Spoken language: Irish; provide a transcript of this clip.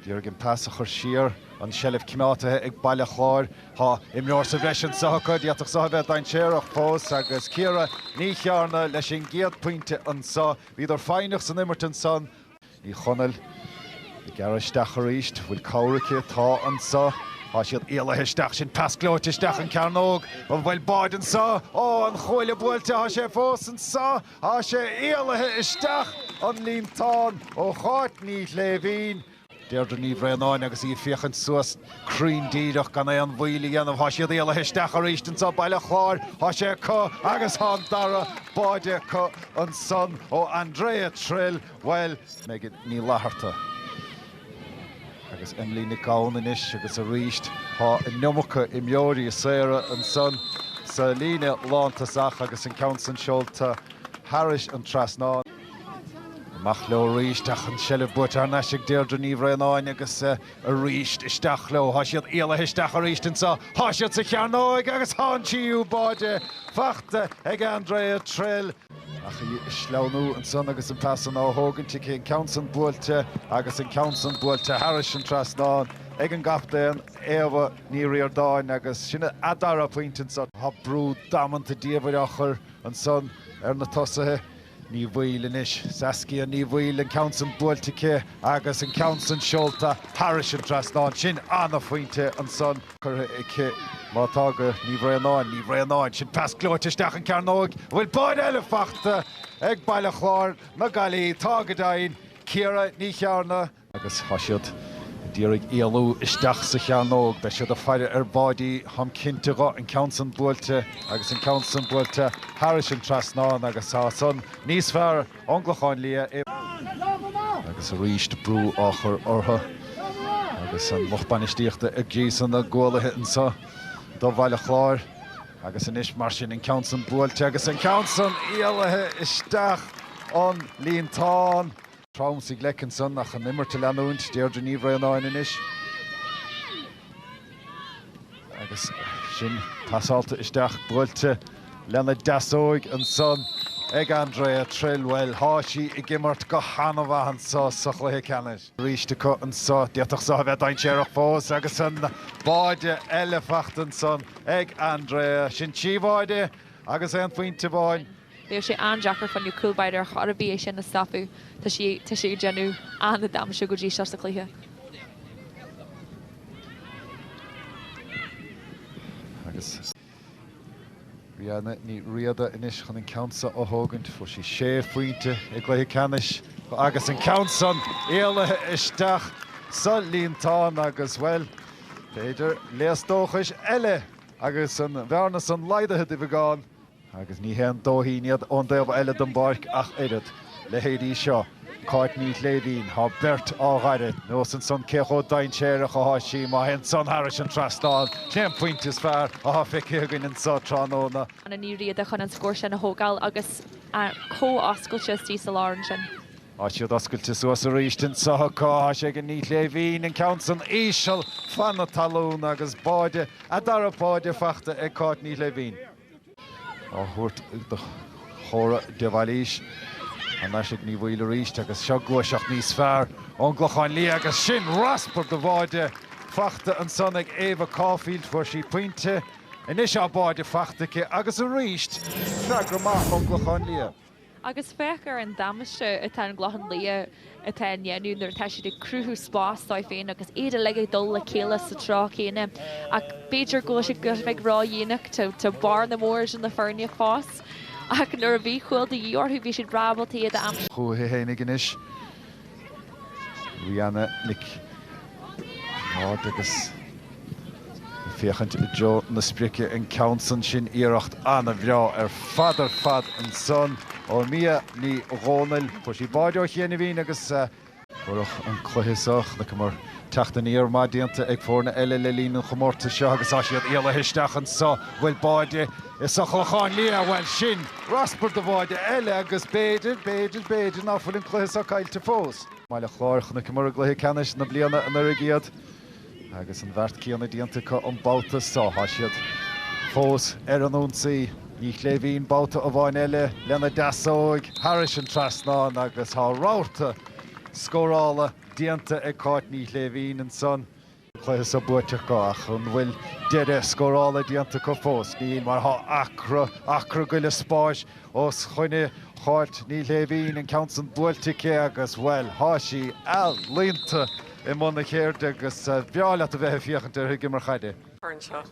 D'iarraidh an pas a chur siar. An seilbh coimeádtaithe ag Baile Chláir. Tá imreoir sa bhreis anso acu. D'fhéadfadh so a bheith dainséarach fós agus Ciara Ní Chearna leis an gcéad pointe anso. Bhíodar foighneach san imirt ansan. Ní Chonaill ag gearradh isteach arís. Bhfuil cabhair aici? Tá anso. Tá siad éalaithe isteach. Sin pas gleoite isteach an cearnóg. An bhfuil báide anso. Ó an chuaille buailte. Tá sé fós anso. Tá sé éalaithe isteach an líontán ó Cháit Ní Shléibhín. Deirdre Ní Bhraonáin agus í ag féachaint suas cruinn díreach gan aon mhoill a dhéanamh. Tá siad éalaithe isteach arís anso, Baile Chláir. Tá sé acu agus tá an dara báide acu ansan ó Andrea Trill, bhuel, Megan Ní Fhlatharta. Agus Emily Nic Gabhann anois agus arís tá an iomarca imreoirí saora ansan sa líne lántosach agus an ceann san seolta thairis an trasnán. Amach leo arís ach an seilbh buaite thar n-ais ag Deirdre Ní Bhraonáin agus arís isteach leo. Thá siad éalaithe isteach arís anso. Thá siad sa chearnóig agus thá an tríú báide fachta ag Andrea Trill. Ach í ag sleamhnú ansan agus an pas san á thógaint aici. An ceann san buailte agus an ceann san buailte thairis an trasnán ag an gcaptaen, Éabha Ní Ríordáin, agus sin a dara pointe ansan. Tá brú damanta diabhail á chur ansan ar na tosaithe. Ní Bhaoill anois. Saskia Ní Bhaoill, an ceann san buailte aici. Agus an ceann san seolta thairis an trasnán, sin an-phointe ansan. Cabhair aici má tá gá, Ní Bhraonáin. Ní Bhraonáin, sin pas gleoite isteach an cearnóig an bhfuil báide eile fachta ag Baile Chláir na Gaillimhe. Tá go deimhin. Ciara Ní Chearna. Agus tá siad ag iarraidh éalú isteach sa chearnóg. Beidh siad ag faire ar bháidí, táim cinnte dhe. An ceann san buailte agus an ceann san buailte thairis an trasnán agus tá san níos fearr. ón gClochán Liath agus arís brú á chur orthu agus an lucht bainistíochta ag gríosadh na gcualaithe anso do Bhaile Chláir agus anois mar sin an ceann san buailte agus an ceann san éalaithe isteach an líontán. Trom sa ghleic ansan ach an imirt a leanúint, Deirdre Ní Bhraonáin anois. Agus sin pasáilte isteach buailte lena deasóig ansan ag Andrea Trill. Bhuel tá sí ag imirt go han-mhaith anso sa chluiche ceannais. Arís acu anso, d'fhéadfadh so a bheith dainséarach fós agus an báide eile fachta ansan ag Andrea. Sin trí bháide agus aon phointe amháin. Bheadh sé an-deacair d'aon chúl báire ar chor ar bith é sin a stopadh. Tá sí, tá sé ag déanamh an-damáiste go dtí seo sa chluiche. Agus Riana Ní Riada anois chun an ceann seo a thógaint. Fuair sí sé phointe i gcluiche ceannais agus an ceann san éalaithe isteach sa líontán agus, bhuel, b'fhéidir léas dóchais eile agus an bhearna san laghdaithe de bheagán Agus ní haon dóithín iad ón dtaobh eile den bpáirc ach oiread. Leithéid í seo, Cáit Ní Shléibhín, thá beirt á faire, nuas ansan cé chomh dainséarach athá sí, má théann san thairis an trasnán, sin é an pointe is fearr athá fiscithe againn anso tráthnóna. Anna Ní Riada chun an scór sin a thógáil agus comh oscailte istigh sa lár ansin. Tá siad oscailte suas arís anso acu, thá sé ag Iníon Ní Shléibhín an ceann san íseal, fan na talún agus báide, a dara báide fachta ag Cáit Ní Shléibhín. á thabhairt do Chora de Bhailís. Anois ag Ní Bhaoill arís agus seo gluaiseacht níos fearr ón gClochán Liath agus sin raspar de bháide fachta ansan ag Éabha Caulfield. Fuair sí pointe. Anois tá báide fachta aici agus arís freagra maith ón gClochán Liath. Agus féach ar an damaiste atá an Clochán Liath ag déanamh nuair atá siad ag cruthú spás dóibh féin agus iad uilig ag dul le chéile sa treo céanna. Ach b'fhéidir go bhfuil siad ag éirí ródhéanach, tá bearna mhór idir na foirne ag fás. Ach nuair a bhí cúil de dhíth orthu bhí siad ábalta iad a aimsiú. Chuaigh a fhéinigh anois. Riana Nic Ard agus ag féachaint i dtreo na sprice an ceann san sin iarracht an-bhreá ar fad ar fad ansan ó Mia Ní Dhomhnaill. Fuair sí báide ó chianaibhín agus. Ar ndóigh an cluiche seo, chonaiceamar teacht aniar maith déanta ag foirne eile le linn an chomórtais seo agus tá siad éalaithe isteach anso. Bhuel báide Is ón gClochán Liath, bhuel, sin raspar de bháide eile agus b'fhéidir, b'fhéidir, b'fhéidir nach bhfuil an cluiche seo caillte fós. Baile Chláir, chonaiceamar i gcluiche Ceannais na bliana anuraidh iad agus an beart céanna déanta acu an babhta seo. Tá siad fós ar an ionsaí. Ní Shléibhín babhta amháin eile lena deasóig thairis an trasnán agus tá rabharta scórála déanta ag Cáit Ní Shléibhín ansan. Cluiche so buaite acu ach an bhfuil deireadh scórála déanta acu fós? Níl mar tá acra, acra go leith spáis os coinne Cháit Ní Shléibhín, an ceann san buailte aici agus, bhuel, tá sí ealaíonta i mbun a ceirde agus is breá leat a bheith ag féachaint uirthi ag imirt caide.